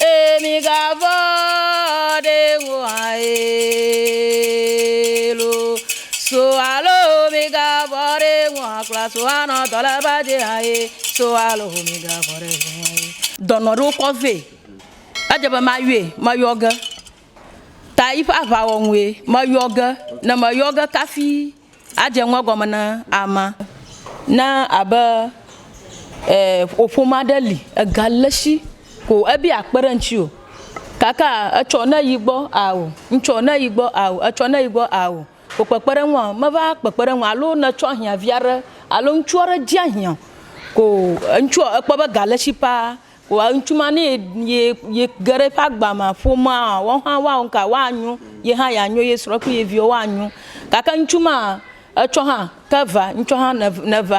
Ee, migavɔ̃ ɖe ŋu hã ee lo. So alo migavɔ̃ ɖe ŋu hã kura so anɔ dɔ le ba dzi hã ee. So alo migavɔ̃ ɖe ŋu hã ee. Dɔnɔ ɖewo kɔ vɛ. Edze be mayɔe, meyɔ ge. Ta yiƒe aʋawɔwɔe, meyɔ ge. Ne meyɔ ge kafi. Adze ŋu egɔme na amea ne abe wò ƒome aɖe li, ega le esi ko ebe akpe ɖe ŋuti o gake etsɔ ne yi gbɔ ao, ŋtsɔ ne yi gbɔ ao, etsɔ ne yi gbɔ ao, wò kpekpeɖeŋu o, meva kpekpe ɖe eŋu o alo ne etsɔ ahiã vi aɖe alo ŋutsu aɖe dze ahiã ko ŋutsua ekpɔ be ga le esi paa. Wa ŋutsu ma ne ye ye ye ge ɖe eƒe agba me ƒomea woawo hã woa nu ka woanyo ye hã yeanyo ye srɔ̃ kple ye viwo woanyo gake ŋutsu ma etsɔ hã ke va ŋutsua hã ne neva.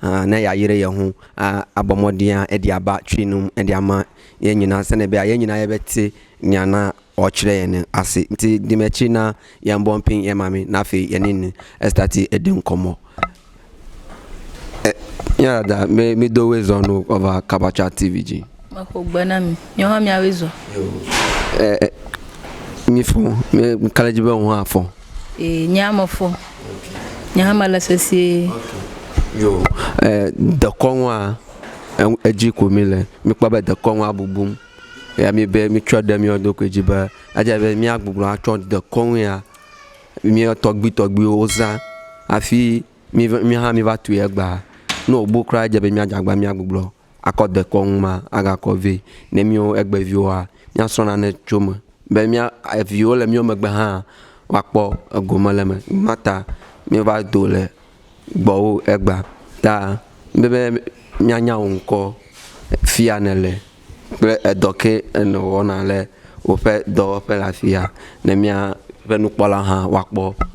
Ã, ne ya yire ye hũn, ã, abɔ mɔ ɖia eɖi aba cui num, eɖi ama ye nyina sene be a ye nyina ye be tse nya na ɔ cire ye ne asi. Nti dime ci na ye ŋbɔ ŋpin ye mami na fi ye ni ni esta ti eɖi ŋkɔ mɔ, E, mia dada, mi, mi do we zɔ nu ɔ va Kabacha TV ji. Me xo gbe na mi. Miɔ hã mia we zɔ. E, e, mi fɔ, mi kale ji be ŋ hã fɔ. Ee, nye hã mefɔ. Nye hã melé sesĩe. Yo, e, dekɔnua, eŋ, edzi ko mí le. Mí kpɔ be dekɔnua bubum. Eya mí be mí tsɔe ɖe míawo ɖokui dzi be edze abe mía gbugblu atsɔ dekɔnu ya míawo tɔgbuitɔgbuiwo wo zã hafi mí va, mí hã mí va tui egbea. Ne wò bu kura edze abe mía dze agbagba mía gbugblu akɔ dekɔnu ma agakɔ vɛ ne mía egbe viwoa, míasrɔ̃ nane tso eme be mía eviwo le mía megbe hã woakpɔ egome le eme. Nu ma ta míeva do le gbɔwò egbea ta be be míanya wò ŋkɔ fi ya nèle kple edɔ ke nèwɔna le woƒe dɔwɔƒe le afi ya ne míaƒe nukpɔlawo hã woakpɔ.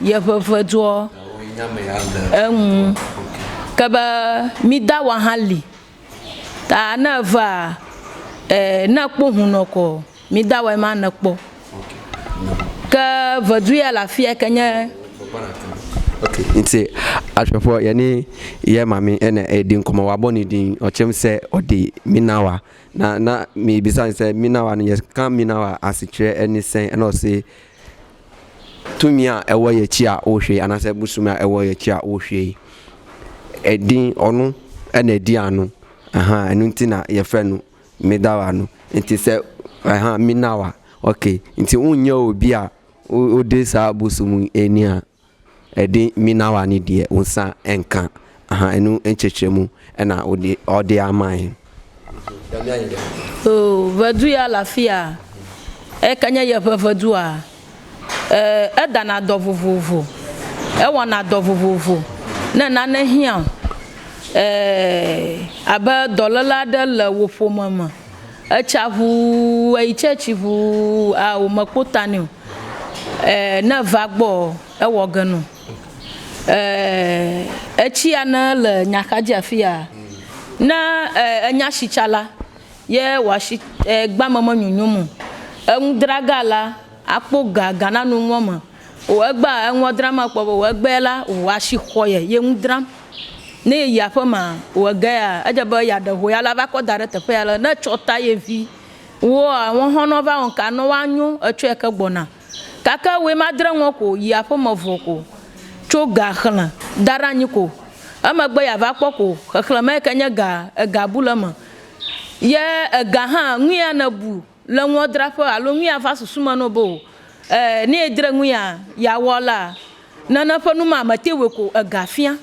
Ye ƒeƒe doɔ eŋu ke be mi da wa hã li ta ne eva e ne ekpɔ ŋu nɔ kɔ mi da wa ma ne kpɔ ke ve du ya le afia ke nye ok nti ashwe fɔ yɛ ni yɛ ma mi ene e di nkɔmɔ wa bɔ ni di ɔ chem se ɔ di mi na wa na na mi bisa ni se mi na wa ni yɛ kan mi na wa asi tre eni se enɔ se Tumia ewɔ ye tsia o hwe anase busumea ewɔ ye tsia o hwe. Edi ɔnu ene di anu. Aha enu tina ye fe nu mi da wa nu. Nti se aha mi na wa. Ok. Nti un nye o bia o de sa busumu enia. Eɖi mina wa ni ɖiɛ wonsa eŋka ahan enu eŋtsɛtsɛ mu ena woɖi ɔɖi amaɛ. O ŋɛdu ya le afia? Eyike nye yeƒe ŋɛdua? E, edana dɔ vovovo. Ewɔna dɔ vovovo. Ne nane hiã o, e, abe dɔlele aɖe le wò ƒome me. etsa ʋuu eyi church ʋuu aa wo me kpo ta nɛo e ne eva gbɔ ewɔ ge no e etsia ne le nya xa dzi afia ne e enya shi tsa la ye wa shi e gbame me nyonyom o eŋu draga la akpo ga ga na nu nua me. O egbea eŋua dram akpɔ be o egbea la o asi xɔ ye ye ŋu dram. Ne ye yi aƒe ma o egea edze be ya ɖe ho ya la va kɔ da ɖe teƒe ya le ne tsɔ ta ye vi woa ŋɔ hɔn nɔ va ŋka nɔ wa nyo etsɔ ya ke gbɔna. Kake woe ma dre ŋɔ ko yi aƒe me vɔ ko tso ga xle da ɖa nyi ko emegbe ya va kpɔ ko xexle me yi ke nye ga ega bu le me ye ega hã ŋuya ne bu le ŋuɔ draƒe alo ŋui a va susu me nɔ be o ɛɛ ne edre ŋui a ya wɔ la, nane ƒe nu ma me te wɔe ko ega fia.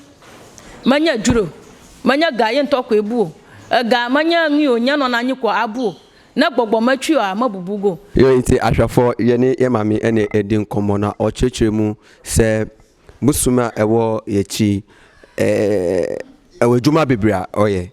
Me nye djro o, me nye ga ye ŋtɔ koe bu o, ega me nye ŋui o nye nɔna anyi ko a bu o, ne gbɔgbɔ me tui ɔa me bubu go. Yɔ ŋti a shɔafɔ ye ni ye ma mi ene e ɖi ŋkɔ mɔ na ɔ tsretsre mu se busu me a ewɔ ye tsi e ewɛ djoma bibri a ɔ ye.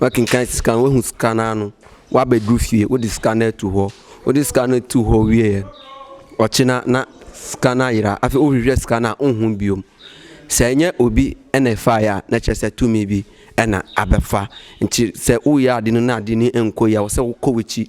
Wo kinkan sika wo ŋu sika na nu wo abe ɖo fie wo ɖi sika ne tu xɔ wo ɖi sika ne tu xɔ wie yɛ ɔ tsi na na sika na yra afi wo ʋuiɛ sika na wo ŋu bio sɛ nye obi ene fa ya ne tsɛ sɛ tu mi bi ena abe fa ŋtsi sɛ wo ya ɖi nu na ɖi ni eŋko ya wo sɛ wo ko witsi.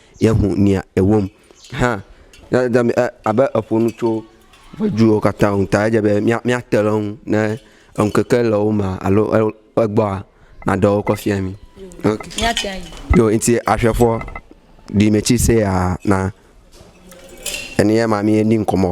Yehu nia ewom hã abe eƒo nu tso ŋɔdzuwo katã ŋu ta edze be míate ɖe eŋu ne ŋkeke le wo mea alo egbɔa naɖe wo kɔ fia mí. Ok. Yo nti ahwɛfɔ ɖi me ci se ya na eniye ma mi ni nkɔmɔ.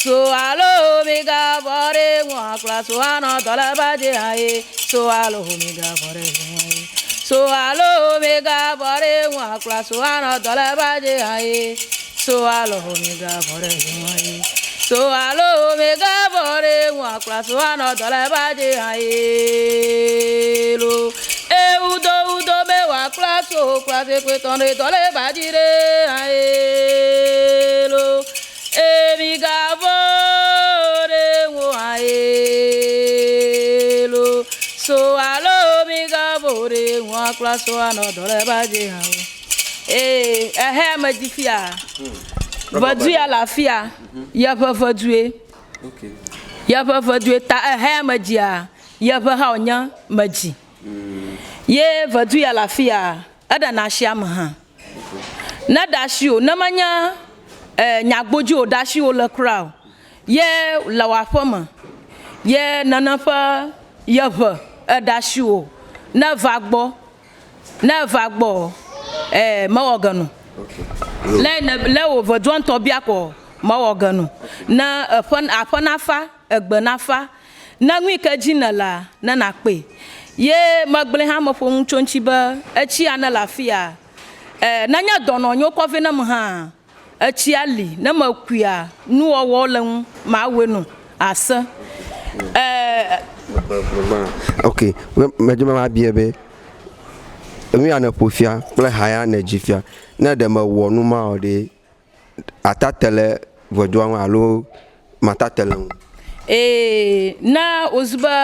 So alo miga vɔ ɖe ŋua kpla so anɔ dɔle va je aye so alo miga vɔ ɖe ŋua ye so alo miga vɔ ɖe ŋua kpla so anɔ dɔle va je aye so alo miga vɔ ɖe ŋua ye so alo miga vɔ ɖe ŋua kpla so anɔ dɔle va je aye lo ewu do wu do be wa kpla so kpla se kpe tɔn ɖe dɔle va ji ɖe aye lo. Ee, migavɔ̃ o, ɖe ŋu hã ye lo so alo migavɔ̃ o, ɖe ŋu hã kpla so anɔ dɔ le ba dzi hã o. Ee, ehe ame dzi fia, ŋɛdu ya le afia, ye ƒe ŋɛdue, ye ƒe ŋɛdue ta ehe ame dzia, ye ƒe hã wònye me dzi. Ye ŋɛdu ya le afia, eɖena asi ame hã. Ne ɖe asi o, ne menye eh, nyagbo dzi o, ɖe asi wole kura o, ye le wò aƒeme, ye nene ƒe ye ŋe eɖe asi wò. Ne eva gbɔ, ne eva gbɔ ɔ, eh, mewɔ ge no. Le ne le wò ŋe doa ŋutɔ bia kɔ ɔ, mewɔ ge no. Ne eƒe aƒe nafa, egbe nafa. Na nu yi ke dzi nèlea, ne nàkpee. Ye megblɔe hã meƒo nu tso eŋuti be, Etsia nele afia? Ẽ, nenye dɔnɔ nyo kɔ vɛ nam hãa, etsia li. Ne mekuia, nuwɔwɔwo le ŋu mawɔe nu ase. Ẽ. Ok, me, medi be mabiae be, Enuya nèƒo fia kple haya nèdzi fia, ne ɖe mewɔ nu mawo ɖee, atate le ŋɛdua ŋu alo matate le ŋu. Ee, ne wòzu be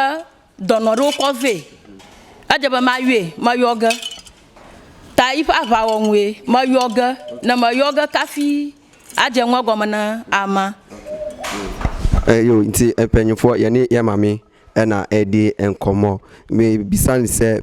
dɔnɔ ɖe wokɔ vɛ, edze be mayɔe, meyɔ ge, ta yiƒe aʋawɔwɔe, meyɔ ge, ne meyɔ ge kafi adze ŋu egɔme na amea. Eyo ŋti eƒe nyɔnfoɔ yɛni yɛma mi ena eɖi eŋkɔ mɔ, mi bisa ni se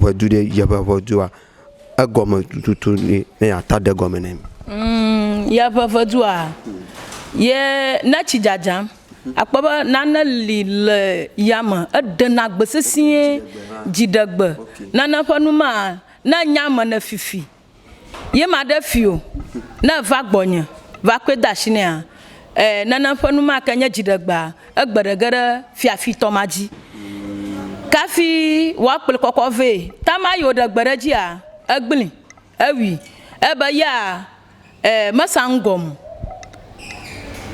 ʋedu ɖe yeƒe ʋedua egɔme tututu ne yeata ɖe gɔme nɛ. Mm, yeƒe ʋedua ye ne tsi dzadzam akpɔ be nane li le yame eɖena gbe sesĩe, dziɖegbe nane ƒe nu ma ne nya me ne fifi. ye maɖe fi o, ne èva gbɔnye va kɔe de asi nɛa, ẽ, nenem ƒe nu ma ke nye dziɖegbea, egbe ɖe ge ɖe fiafitɔ ma dzi. Kafi wòakplɔe kɔkɔ vɛ. Tamar yi wòɖe gbe ɖe edzia, egblẽe, ewui. Ebe ya, ẽ, mesa nu gɔme o.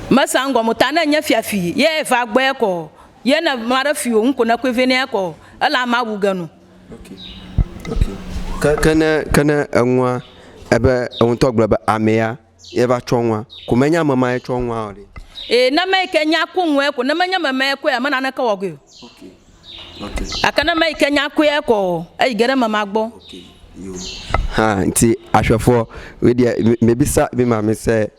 Mesa nu gɔme o, ta ne enye fiafi ye va gbɔe ekɔ o, ye ne maɖe fi o, nu ko nekɔe vɛ nɛ ekɔ o, elae mawu ge nɔ. Ke ne, ke ne eŋua, ebe eŋ ŋutɔ gblɔ be amea ye va tsɔ ŋua, ko menye ame ma ye tsɔ ŋua o ɖe? Ee, ne ame yi ke nya ku ŋuea ko, ne menye ame ma ye kɔe ame naneke wɔ goe o. Gake ne ame yi ke nya kɔe kɔ o, eyi ge ɖe ame ma gbɔ. Hã nti ahwɛfuɔ weɖeɛ mebisa mima mi se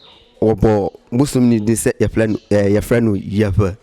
wɔbɔ busumni ɖi se yeƒlɛ nu, yeƒlɛ nu yeƒe.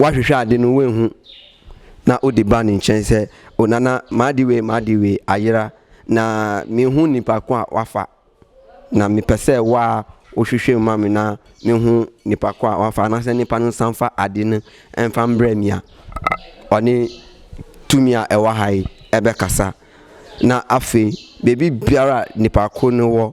Woahwehwɛ aɖi nu woe ŋu na odi ba ni ŋtsɛ se o nana maɖi woe maɖi woe ayra na mi ŋu ni pa kɔa wafa na mi pese wa wohwehwɛ ma mi na mi ŋu ni pa kɔa wafa na se ni pa ni san fa aɖi ni en fa mbre mia ɔ ni tu mia ewa ha yi ebe kasa na afe bebi biara ni pa kɔ ni wɔ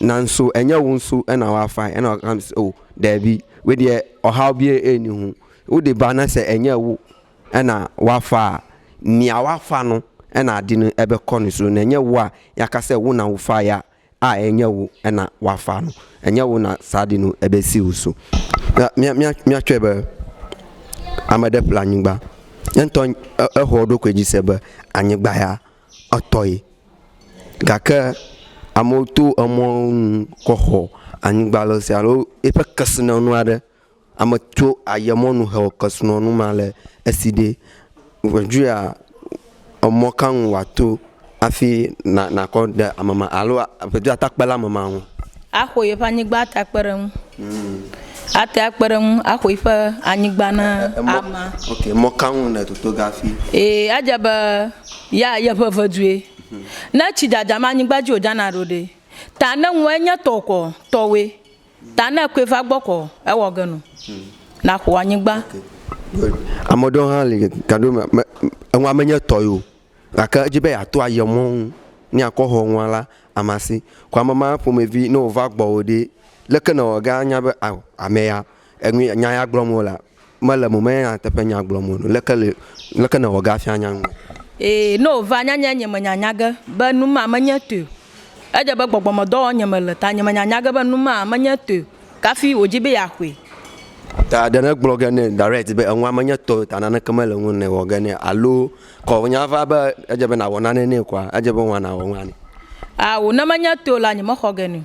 Nanso enye wo nso ena wa fae ena wa kams o dɛbi wedeɛ ɔha bie eni ho wo de ba na se enye wo ena wa faa nia wa fa no ena di no ebe kɔ no so nenye wo a ya ka se wo na wo fa ya a enye wo ena wa fa no enye wo na sa di no ebe si wo so ya mia mia mia tsɔe be ameɖe ƒle anyigba yentɔ ehɔ ɖokui dzi se be anyigba ya etɔe gake amewo to emɔ nu kɔ xɔ anyigba le sia alo eƒe kesinɔnu aɖe. Ame tso aye mɔ nu he wɔ kesinɔnu ma le esi ɖe ŋudzoea emɔ ka nu woato hafi na nakɔ de ame ma alo ŋudzoa ate akpe ɖe ame ma ŋu. Axɔ yeƒe anyigba ate akpe ɖe eŋu. Ate akpe ɖe eŋu axɔ yiƒe anyigba na amea. Ok emɔ ka nu nètoto ge hafi. Ee edze be. Ya yeƒe vedue. Ne tsi dzadzam anyigba dzi wòdzana ɖo ɖe? Ta ne ŋu enye tɔwò kɔ, tɔwòe. Ta ne ekɔe va gbɔ kɔ, ewɔ ge nu. Nàxɔ anyigba. Good. Ame ɖewo hã li gaɖo me, me, enua menye tɔ ye o, gake edzi be yeato aye mɔ ŋu ne yeakɔ xɔ nua la, ama si. Ko ame ma ƒomevi, ne wòva gbɔwò ɖe, leke nèwɔ ge anya be ao, ame ya, enu, nya ya gblɔm wolea? Mele mo me nyateƒe nya gblɔm o nu. Leke le, leke nèwɔ ge afia nya ŋume? Ee, ne wòva nya nye nye menya nya ge be nu ma menye toe o. Edze be gbɔgbɔmedɔ wɔm nyemele o, ta nye menya nya ge be nu ma menye toe o. Kafi wòdi be yeaxɔe. Ta ɖe negblɔ ge nɛ direct be enua menye tɔwò o, ta naneke mele ŋuwò ne wɔ ge nɛ alo kɔ nya va be edze be nàwɔ nane nɛ kɔa, edze be wò hã nàwɔ nua nɛ. Ao, ne menye toe o la, nyemexɔ ge nɛ o.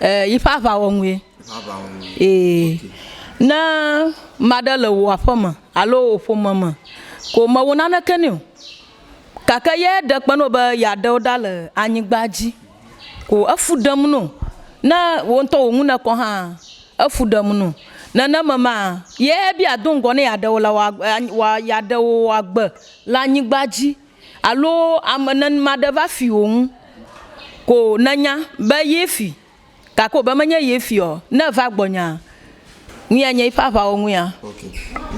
Ɛɛ, yi ƒe aʋawɔnue. Ee. Ne ame aɖe le wò aƒeme alo wò ƒome me ko mèwɔ naneke nɛ o, gake ye ɖe kpe na wò be yeaɖe wò ɖa le anyigba dzi ko efu ɖem na wò, ne wò ŋutɔ wò nu nèkɔ kɔ hã, efu ɖem na wò. Nenema ma ye be yeado ŋgɔ ne yeaɖe wò le wòa, wòa, yeaɖe wò wòa gbe le anyigba dzi Alo ame nenema ɖe va fi wò ŋu, ko nènya be ye fi, gake wòbe menye ye fi ɔ, ne eva gbɔnyea, ŋu anye yiƒe aʋawo ŋu ya. Ok.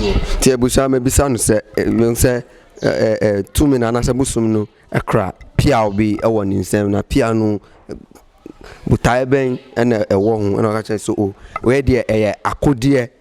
Yo. Ti ebu sa me bisa nu se e nu se e e e tu me na na se bu sum nu e kra pia o bi e wɔ ni se na pia nu bu ta e be ene e wɔ hu e na ka ce so o. We diɛ e yɛ a ko diɛ.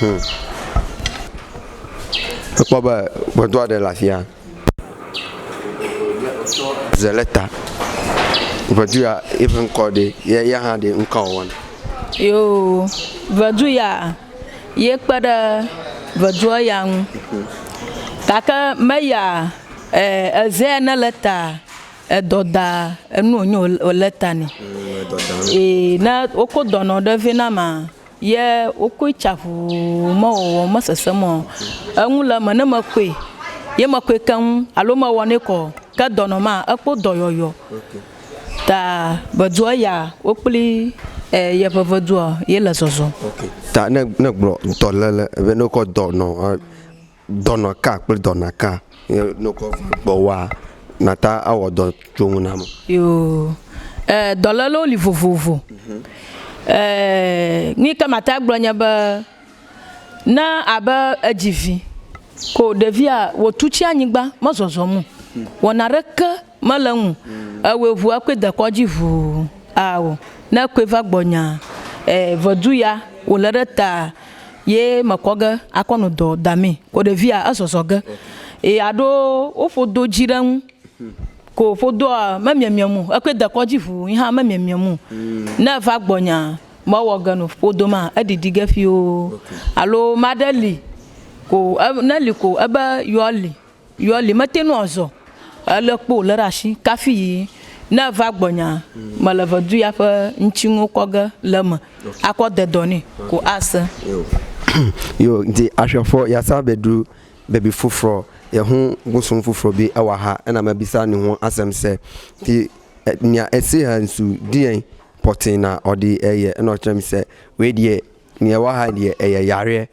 Hum. Ekpɔ be ʋedoa ɖe le afia. Ze le ta. Ʋedu ya eƒe ŋkɔ ɖe ye ya hã ɖe ŋkɔ wɔna. Yoo, ʋedu ya ye kpe ɖe ʋedua ya ŋu. Gake me ya e eze ya ne le ta edɔ da enu wonyo wole ta nɛ. Edɔ da. Ee, ne woko dɔnɔ ɖe vɛ na ma. ye wokɔe tsa ʋuu me wɔwɔ me sesem ɔ, eŋu le eme ne me kɔe ye me kɔe keŋ alo me wɔ nɛ kɔ ke dɔ nɔ ma ekpɔ dɔyɔyɔ okay. ta be dua ya wokpli e ye ƒe ve dua ye le zɔzɔ. Okay. Ta ne ne gblɔ ŋutɔ le le be ne wokɔ dɔ nɔ. Dɔna ka kple dɔna ka ye ne wokɔ va gbɔwòa, nàta awɔ dɔ tso ŋu nam? Yoo, ɛɛ, dɔlélewo li vovovo. Ɛɛ, nu yi ke mate ŋu agblɔ nye be, ne abe èdzi vi, ko ɖevia wòtu tsi anyigba, mezɔzɔm o, wɔna ɖeke. mele ŋu ewe ŋu ekɔe dekɔ dzi ŋu ao ne ekɔe va gbɔ nya e vedu ya wole ɖe ta ye me kɔ ge akɔ no dɔ da mi ko ɖevia ezɔzɔ ge ye aɖo woƒo do dzi ɖe ŋu ko ƒo doa me miamia mu ekɔe dekɔ dzi ŋu yi hã me miamia mu ne eva gbɔ nya me wɔ ge no ƒodo ma eɖiɖi ge ƒio alo maɖe li ko ne li ko ebe yɔ li Yɔ li mete ŋu azɔ o, elé kpo wòlé ɖe asi kafi yi ne eva gbɔnyaa, mele ve du ya ƒe ŋtsinuwo kɔ ge le eme akɔ de dɔ nɛ ko ase. Yo nti axwe fɔ ya sa be ɖu be bi fufrɔ ye hu gusun fufrɔ bi ewa ha ena me bi sa ni hu asem se ti nia esi he nsu dien pɔtin na ɔdi eye enɔ trem se we die ni ewa ha die eye yarie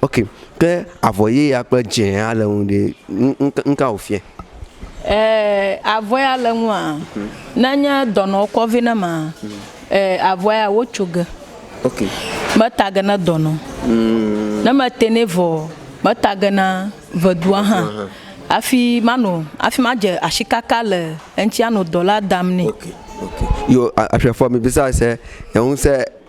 Ok ke avɔ ɣi ya kple dzɛ ya le ŋu ɖe nuka wò fia? Avɔ ya le ŋua ne nye dɔnɔ wò kɔ vɛ ne ma avɔ ya wò tso ge me ta ge ne dɔnɔ ne me tɛ nɛ vɔ me ta ge na ʋeɖua hã hafi ma nɔ hafi ma dze asi kaka le eŋuti anɔ dɔ la dam nɛ. Ok ok yo aƒia fɔ mi bisa se enu se.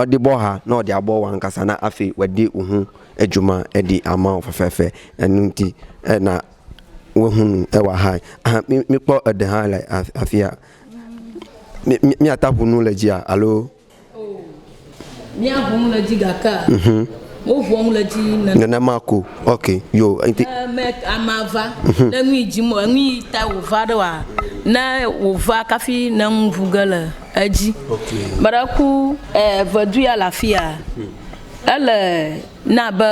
Ɔdi bɔ ha nɔ ɔdi abɔ wa ŋkasa na afi wɛdi uhu ejuma edi amao fefefe enu ŋti ena wehunu ewa ha aha mi mi kpɔ ede ha le afia mi mi mi ata ʋunu le dzi a alo o mi a ʋunu le dzi gake a mhm mo ʋuɔ ŋu le dzi nene nenema ko ok yo ŋti e me ama va mhm ne nui dzi mo enui ta wo va ɖe wa ne wo va kafi ne ŋu ʋuge le. edzi. Meɖe ku evedu ya le afia? Ele na be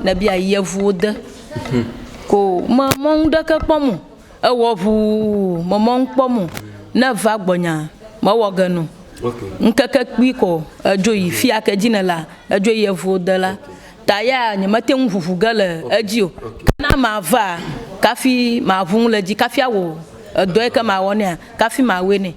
nèbi ayi yevuwo de ko me mɔ nu ɖeke kpɔm o. Ewɔ ŋuu me mɔ nu kpɔm o. Ne èva gbɔnyea, mewɔ ge nɔ. Ŋkeke kpui ko edzo yi fi ya ke dzi nèlea, edzo yi yevuwo de la. Ta ya nyemete ŋu ʋuʋu ge le edzi o. Ke ne amea vaa, kafi maʋu nu le edzi, kafi awɔ edɔ yi ke mawɔ nɛa, kafi mawɔe nɛ.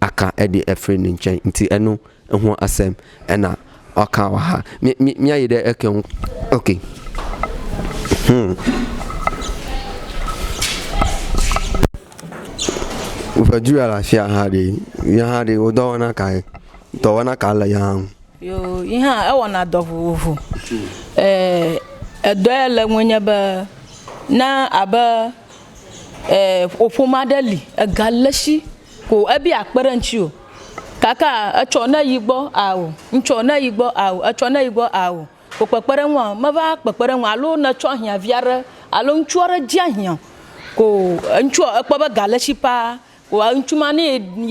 aka eɖi efri ni ŋtsɛ ŋti enu ehua asem ena ɔka waha mi mi miayi ɖe eke ŋu ok hmm woƒe du ya le afia ha ɖe ya ha ɖe wo dɔwɔna ka ye dɔwɔna ka le ya ŋu yo yi hã ewɔna dɔ vovovo eh edɔ ya le ŋu nye be na abe eh ƒome aɖe li ega le si Ko ebi akpe ɖe ŋtsi o kaka etsɔ ne yi gbɔ ao ŋtsɔ ne yi gbɔ ao etsɔ ne yi gbɔ ao ko kpekpe ɖe ŋua me va kpekpe ɖe ŋua alo ne tsɔ hiã via ɖe alo ŋtsu aɖe dzi ahiã ko ŋtsua ekpɔ be ga le tsi paa ko ŋtsu ma ne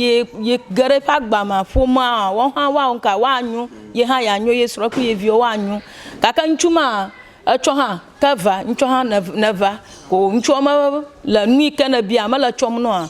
ye ye ge ɖe eƒe agba mea ƒomea woawo hã woa wo ŋka woa nyo ye hã ya nyo ye srɔ kple ye viwo woa nyo gake ŋtsu ma etsɔ hã ke va ŋtsɔ hã ne va ko ŋtsua me le nuyike ne bia mele tsɔm nɔa.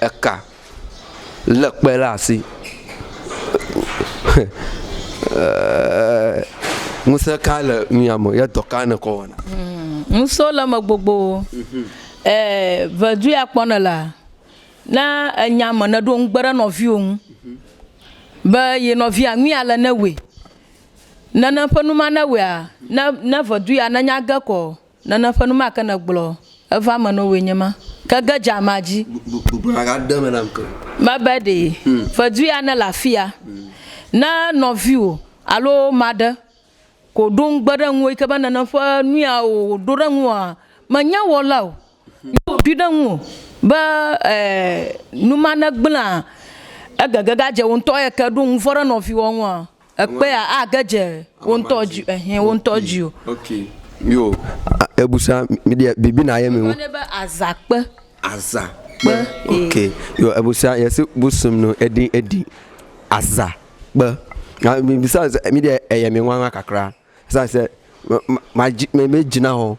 Eka lé kpe ɖe asi. Ŋusẽ ka le mia me ye dɔ ka nèkɔ wɔna? Ŋusẽwo le eme gbogbo. Vevi ya kpɔ nèlea, ne enya ame nèɖo ŋugbe ɖe nɔviwò ŋu be ye nɔvia nu ya le ne wɔe. Nene ƒe nu ma ne wɔea, ne vevi ya nenya ge kɔ. Nana ƒe nu ma ke nègblɔ eva eme na wòe nye ma, ke ge dze amea dzi. Gblɔ nya gã ɖe eme nam ke. Mebe ɖe fedue ya nele afia. Ne nɔviwò alo ame aɖe ko ɖo ŋugbe ɖe ŋuwò yi ke be nana ƒe nu ya wòɖo ɖe ŋuwòa, menye wɔla o, ye wòɖoe ɖe ŋuwò be nu ma negblẽa, egege gadze wò ŋutɔ ya ke ɖo ŋuvɔ̃ ɖe nɔviwòa ŋua, ekpea age dze wo ŋutɔ dzi ehe wo ŋutɔ dzi o. Okay. Yo, ebusa mi dia bibi na ye mi ŋu. Be aza kpe. Aza kpe. Okay. Yo, ebusa yesi busum no edi edi aza kpe. Na mi bisa mi dia eye mi ŋwa ŋwa kakra. Sa se ma ma ma ji me me jina ho.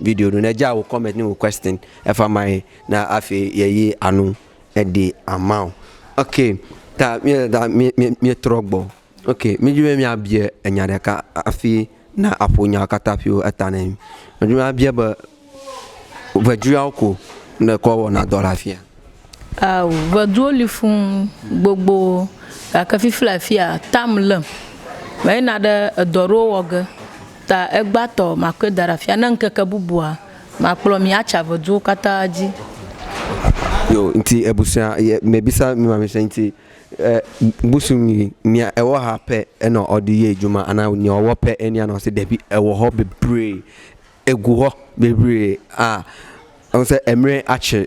Video nu ne dza wo comment ni wo question efa mai na afi ye yi anu edi amao. Ok, ta mi da mi mi mi trɔ gbɔ. Ok, mi dzi be mi abie enya ɖeka afi na aƒo nya kata afi wo eta ne mi. Mi dzi be abie be veduawo ko ne kɔ wɔna dɔ la fia. Ao, ʋeduwo li fũu gbogbo, gake fifi le afia, tam lém. Meyina ɖe edɔ aɖewo wɔ ge, ta egbetɔ makɔe da ɖe afia, ne ŋkeke bubua, makplɔ mi atsi ʋeduwo katã dzi. Yo, ŋti ebusunya ye mebisa mi mamese ŋti e busu mi mia ewɔ ha pɛ enɔ ɔdi ye juma ana nye ɔwɔ pɛ eni anɔ se ɖebi ewɔ hɔ bebree, egu hɔ bebree a ɔnse emre atsi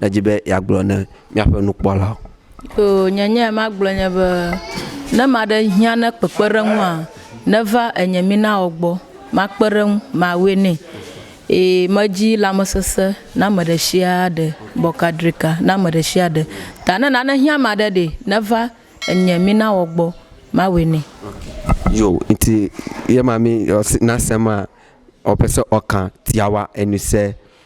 Nèdi be yeagblɔ na míaƒe nukpɔlawo. Oo, nye nyae magblɔ nye be, Ne ame aɖe hiã ne kpekpeɖeŋua, neva enye minawɔ gbɔ, makpe ɖe eŋu, mawɔe nɛ. Ee, medzi lãmesesẽ na ame ɖe sia ɖe, bɔkadrika na ame ɖe sia ɖe. Ta ne nane hiã ame aɖe ɖe, neva enye minawɔ gbɔ, mawɔe nɛ. Yo, nti yema mi ɔsi nasema ɔpese ɔkan tiawa enuse.